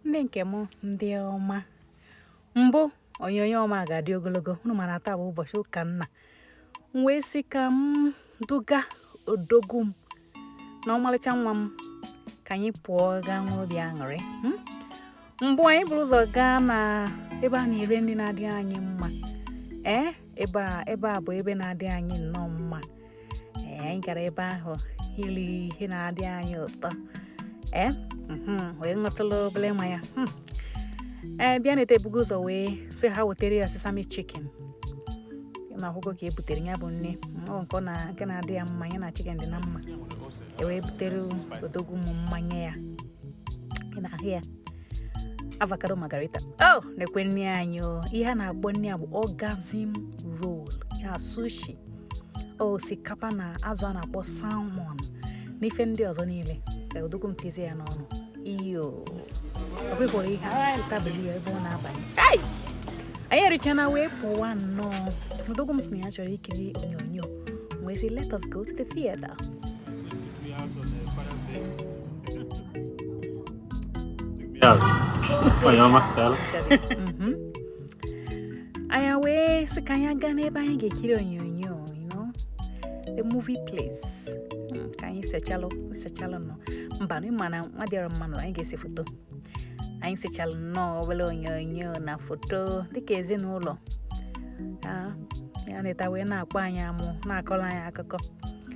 ndị nke m ndị ọma mbụ onyonyo ọma ga-adị ogologo unu ma na taa bụ ụbọchị ụka nna m wee sị ka m duga odogwu m na ọmalịcha nwa m ka anyị pụọ gaa nwee obi aṅụrị hmm? mbụ anyị buru ụzọ gaa na ebe a na-ere nri na-adị anyị mma ee eh? ebe a bụ ebe na-adị anyị nnọọ mma ee anyị gara ebe ahụ iri ihe na-adị anyị ụtọ ee mhm, wee ṅụtụlụ obere mmanya Hmm. ee bịa na-ete ebugo ụzọ wee sị ha wetara ya sesame chicken na akwụkwọ ka e butere ya bụ nri o nke ọ na nke na-adị ya mma ya na chicken dị na mma e wee butere odogwu m mmanya ya ị na-ahụ ya avocado margarita oh nekwa nri anyị o ihe a na-akpọ nri a bụ orgasm roll ya sushi osikapa na azụ a na-akpọ salmon na ife ndị ọzọ niile odogwu m tizie ya n'ọnụ iyo ọ bụghịkwara ihe agha tabụl ya ebe ọ na-abanye anyị erichana wee pụwa nnọọ odogwu m sị na ya chọrọ ikiri onyonyo wee sị let us go to the theater Yeah. Well, you're my anyị wee sị ka anyị gaa n'ebe anyị ga-ekiri onyonyo you know, a movie place Mm, ka anyị sechalụ sechalụ nọ mba na ịma na nwa dịara mma nụrụ anyị ga-ese foto anyị sechalụ nnọọ obere onyonyo na foto dịka ezinụlọ Ah, ya neta wee na-akpọ anyị amụ na-akọrọ anyị akụkọ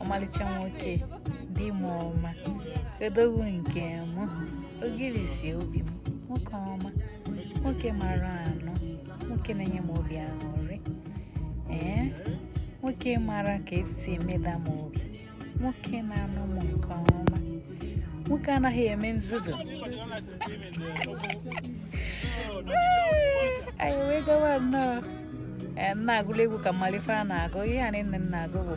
ọmalịcha nwoke di m ọma odogwu nke m ogirisi obi m nwoke ọma nwoke mara anụ nwoke na-enye m obi aṅụrị ee nwoke mara ka e si emeda m obi nwoke na-anụ m nke ọma nwoke anaghị eme nzuzu anyị wee gawa nnọọ na-agụlụ egwu ka m malụ ife a na-agụ ihe a niile m na-agụ bụ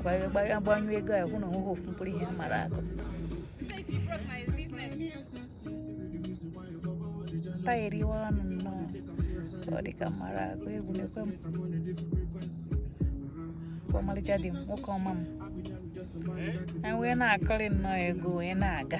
agbanyụọ egwu a hụ na o nweghị ofu mkpụrụ ihe m mara agụ tagheriwa ọnụ nnọọ ọ dị ka m mara agụ egwu nekwa m ọmalịcha di m nwoke ọma m anyị wee na-akụrị nnọọ egwu wee na-aga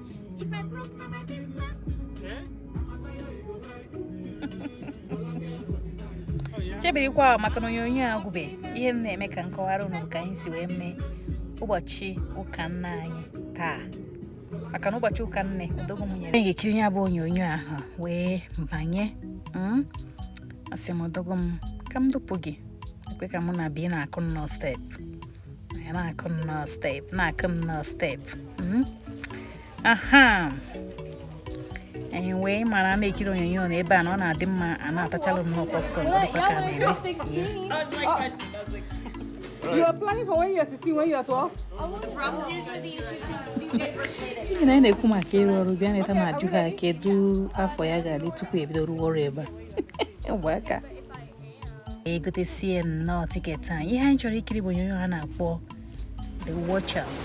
If I broke na my business. Eh? chebirikwa maka na onyonyo agwụbe ihe m na-eme ka m kọwara unu ka anyị si wee mee ụbọchị ụka nna anyị taa maka na ụbọchị ụka nne odogwu m nyere ga-ekiri ya bụ onyonyo ahụ wee banye hmm? asị m odogwu m ka m dupụ gị ekwe ka mụ na bi na-akụ nnọọ step Anyị na-akụ nnọọ step na-akụ nnọọ step hmm? aha anyị wee mara na ikiri onyonyo na ebe a na ọ na-adị mma a na-atachalụ nnọọ popcorn ọ dịkwa ka a na-eme You are planning for when you are 16, when you are 12? ihe na anyị na-ekwu maka ịrụ ọrụ Bianeta ma ajụ ha kedu afọ ya ga-adị tupu ebido rụwa ọrụ ebe a ụmụaka egotesie nnọọ tiketi anyị ihe anyị chọrọ ikiri bụ onyonyo ha na-akpọ the watchers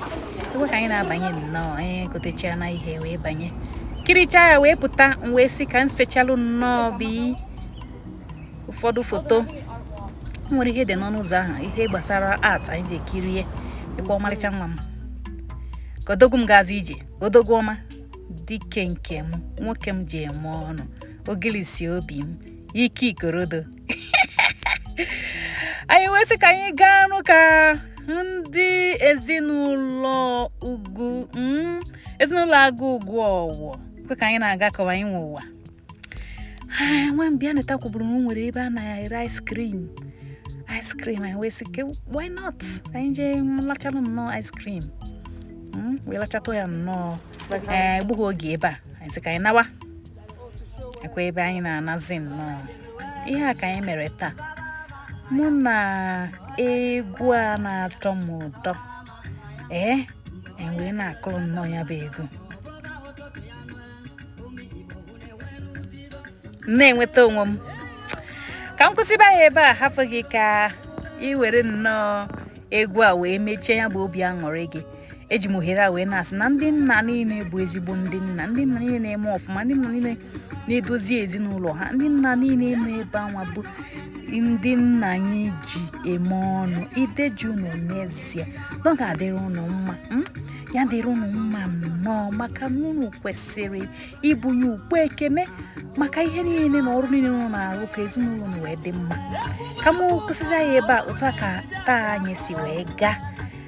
tupu ka anyị na-abanye nnọọ anyị egotechana ihe wee banye kirichaa ya wee pụta m wee sị ka m sechalụ nnọọ bụ ụfọdụ foto e nwere ihe dị n'ọnụ ụzọ ahụ ihe gbasara art anyị jee kirie dịkwa ọmalịcha nwa m ka odogwu m gazi ije odogwu ọma dike nke m nwoke m ji eme ọnụ ogilisi obi m ike ikorodo anyị wee sị ka anyị gaa nụ ka ndị ezinụlọ ugwu mm, ezinụlọ agụ ugwu ọwụwa kwe ka anyị na-aga ka ọ wụ anyị nwe ụwa Ah, nwa m Bianeta kwuburu na o nwere ebe a na-ere ice cream ice cream anyị wee sị ke why not Ka anyị jee lachalụ nnọọ ice cream Mm, wee lachatụ ya nnọọ egbughị oge ebe a anyị sị ka anyị nawa ekwe ebe anyị na-anazi nnọọ ihe a ka anyị mere taa mana egwu a na-atọ m ụtọ ee m wee na-akụrụ nnọọ ya bụ egwu na-enweta onwe m ka m kwụsịba ya ebe a hafụ gị ka ị were nnọọ egwu a wee mechie ya bụ obi aṅụrị gị eji m ohere a wee na-asị na ndị nna niile bụ ezigbo ndị nna ndị nna niile na-eme ọfụma ndị nna niile na-edozi ezinụlọ ha ndị nna niile nọ ebe a nwa bụ ndị nna anyị ji eme ọnụ ideje unu n'ezie na ọ ga-adịrị unu mma hmm? ya dịrị unu mma nnọọ maka na unu kwesịrị ibunye ụgbọ ekene maka ihe niile na ọrụ niile unu na-arụ ka ezinụlọ unu wee dị mma ka m kwụsịzi ya ebe a otu a ka taa anyị si wee gaa